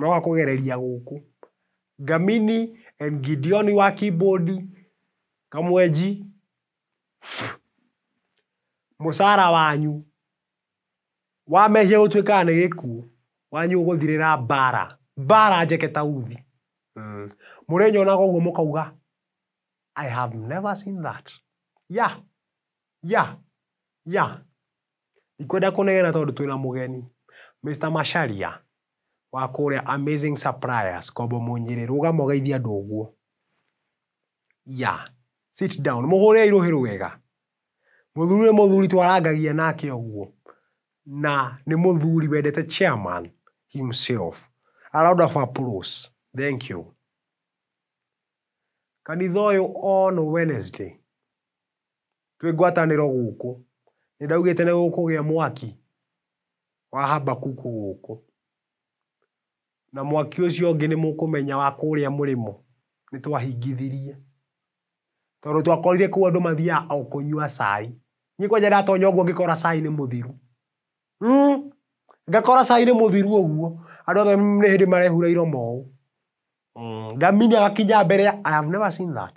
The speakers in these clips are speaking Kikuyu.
Moka kũgereria gũkũ. Ngamini and Gideon wa keyboard, Kamwenji, mũcara wanyu wa mehia gũtuĩkaga nĩ gĩkuũ, wanyu ũgũthirĩra mbara, mbara njeke ta uthi. Mũrĩnyonaga ũguo mũkauga, I have never seen that. Yeah, yeah, yeah. Ndikwenda kũnegena tondũ twĩna mũgeni. Mister Macharia, wa kũrĩa Amazing Suppliers, Kombo Mũnyĩrĩ, rũgama ũgeithie andũ ũguo. Yeah. Sit down. Mũhũrĩrei rũhĩ rwega. Mũthuri ũyũ nĩ mũthuri twarangagia nake ũguo. Na nĩ mũthuri wendete chairman himself. A round of applause. Thank you. Kanitha ũyũ on Wednesday. Twĩ ngwatanĩro gũkũ. Nĩ ndaugĩte nĩ gũkũgĩa mwaki wa Habakuku gũkũ. Na mwaki ũcio ũngĩ nĩ mũkũmenya wa kũrĩa mũrĩmo nĩ twahingithirie. Tondũ twakorire kũu andũ mathiaga o kũnyua cai. Niĩ kwanja ndatonya ũguo ngĩkora cai nĩ mũthiru. Ngakora cai nĩ mũthiru ũguo, andũ othe nĩ hĩndĩ marehura iromo ũũ. Ngaminya gakinya mbere ya, I have never seen that.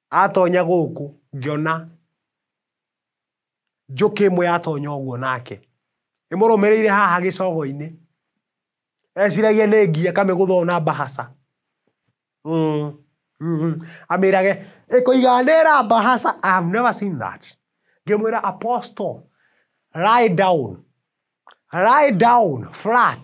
Atonya gũkũ ngĩona njũkĩ ĩmwe yatonya ũguo nake ĩmũrũmĩrĩire haha gĩcogo-inĩ eciragia nĩ ngi akamĩgũtha ũũ na mbahaca mm mm amĩrage ĩkũiga ndĩra mbahaca I have never seen that ngĩmwĩra Apostle lie down lie down flat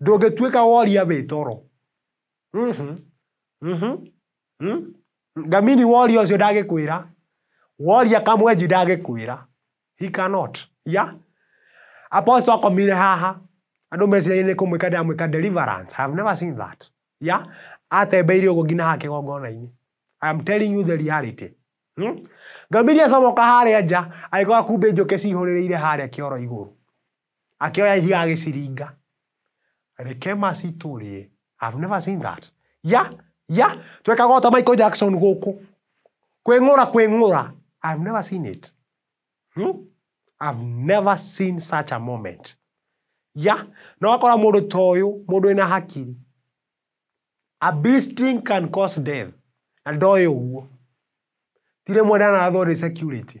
ndũngĩtuĩka woria wĩ toro Mhm, mhm, mhm. ngamini woria ũcio ndagĩkwĩra woria kamwenji ndagĩkwĩra he cannot yeah? apostle akomire haha andũ meciragia nĩ kũmwĩka ndamwĩka deliverance I have never seen that yeah? atembeire ũguo nginya haha kĩgongona-inĩ I am telling you the reality hmm? ngamiri acomoka harĩa nja agĩkora kumbĩ njũkĩ cihũrĩrĩire harĩa kĩoro igũrũ Akĩoya ihiga agĩciringa. Rekema citũrĩe. I've never seen that. Ya, ya, twekaga o ta Michael Jackson gũkũ. Kwĩng'ũra, kwĩng'ũra. I've never seen it. Hmm? I've never seen such a moment. Ya, na wakora mũndũ ta ũyũ, mũndũ wĩna hakiri. A bee sting can cause death. Na ndoĩ ũguo. Ti rĩmwe ndanathwo nĩ security.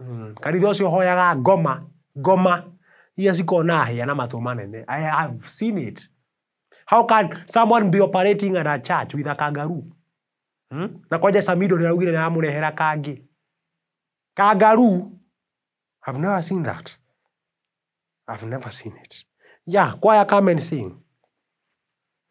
mmh kanitha ũcio ũhoyaga ngoma ngoma iria cikoragwo na hĩa na matũ manene I have seen it how can someone be operating at a church with a kangaroo mmh na kwanja Samido ũrĩa ũraugire nĩaramũrehera kangĩ kangaroo I've never seen that I've never seen it yeah choir come and sing